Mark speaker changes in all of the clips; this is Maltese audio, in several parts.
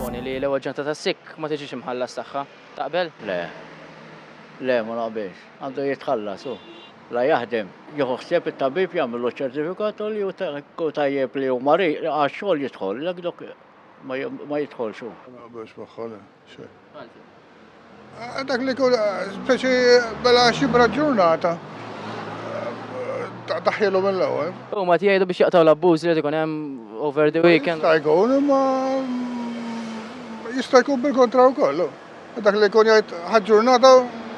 Speaker 1: Proponi li l-ewwel ġanta tas-sikk ma tiġix imħallas tagħha. Taqbel? Le.
Speaker 2: Le, ma naqbilx. Għandu jitħallas hu. La jaħdem, jieħu ħsieb it-tabib jagħmillu ċ-ċertifikat u li hu tajjeb li hu marid, għax-xogħol jidħol, jekk dok ma jidħolx hu. Ma naqbilx magħha le.
Speaker 3: Eh, dak li kull, eh, speċi bela xibra ġurnata. Eh, Taħjilu mill-ewel. U ma tijajdu biex jaqtaw
Speaker 1: l-abbuż li jkun hemm over the weekend. Jista' jkun, ma
Speaker 3: mm, jista' jkun bil-kontra u kollu. Dak li kun jgħid ħagġurnata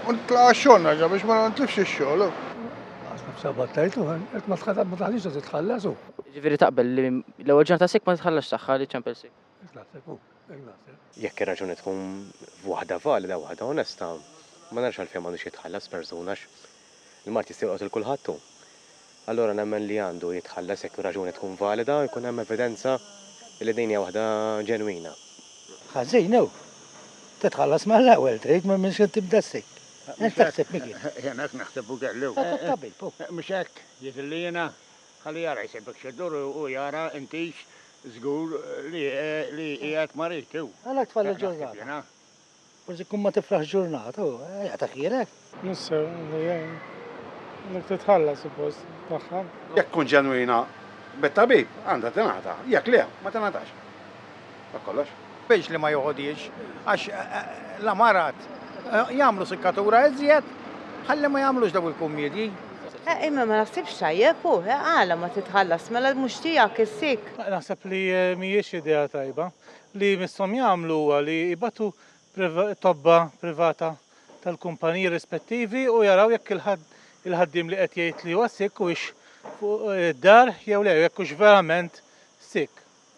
Speaker 3: u tlaqa xonna ġa biex ma ntlifx ix-xogħol. Għasna b'sabat
Speaker 4: tajtu, għet ma tħatab ma taħlix titħallasu. Ġifieri taqbel li
Speaker 1: l-ewwel ġurnata sik ma tħallax tagħha li ċempel sik. Jekk
Speaker 5: ir-raġuni tkun waħda valida, waħda onesta, ma narax għalfejn m'għandux jitħallas persuna għax il-mard jista' jolqot 'il kulħadd hu. Allura nemmen li għandu jitħallas jekk ir-raġuni tkun valida u jkun hemm evidenza li din hija waħda ġenwina. Ħażin
Speaker 4: hu. Titħallas mal-ewwel trid ma minn xejn tibda ssejk. Int x'taħseb Mickey? Jiena hekk naħseb u
Speaker 6: kelli. Tabib hu. Mhux
Speaker 4: hekk?
Speaker 6: Jidhirli jiena Ħalli jara jsejbek xi ddur u jara intix żgur li li qiegħed marid hu. Għalhekk tfal il-ġurnata.
Speaker 4: Forsi tkun ma tifraħx ġurnata u jagħtak ħielek. Mister li
Speaker 7: jgħin. Għandek titħalla suppost tagħha. Jekk tkun ġenwina
Speaker 8: mit-tabib għandha tingħata, jekk le ma tingħatax. Dak kollox. Biex li ma joħodhiex
Speaker 6: għax l-amarat jagħmlu sikkatura iżjed ħalli ma jagħmlux daw il-kummiedji. Eh, imma ma
Speaker 9: naħsibx tajjeb u, eh, għala ma titħallas, mela mhux tiegħek issik. Eh, naħseb li eh,
Speaker 7: mhijiex idea tajba. Li missom jagħmlu huwa li jibatu tobba privata tal-kumpaniji rispettivi u jaraw jekk il-ħaddim li qed jgħid li huwa sik u fuq id-dar jew le jekk hux verament sik.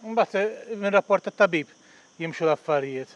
Speaker 7: Mbagħad eh, minn rapport tat-tabib jimxu l-affarijiet.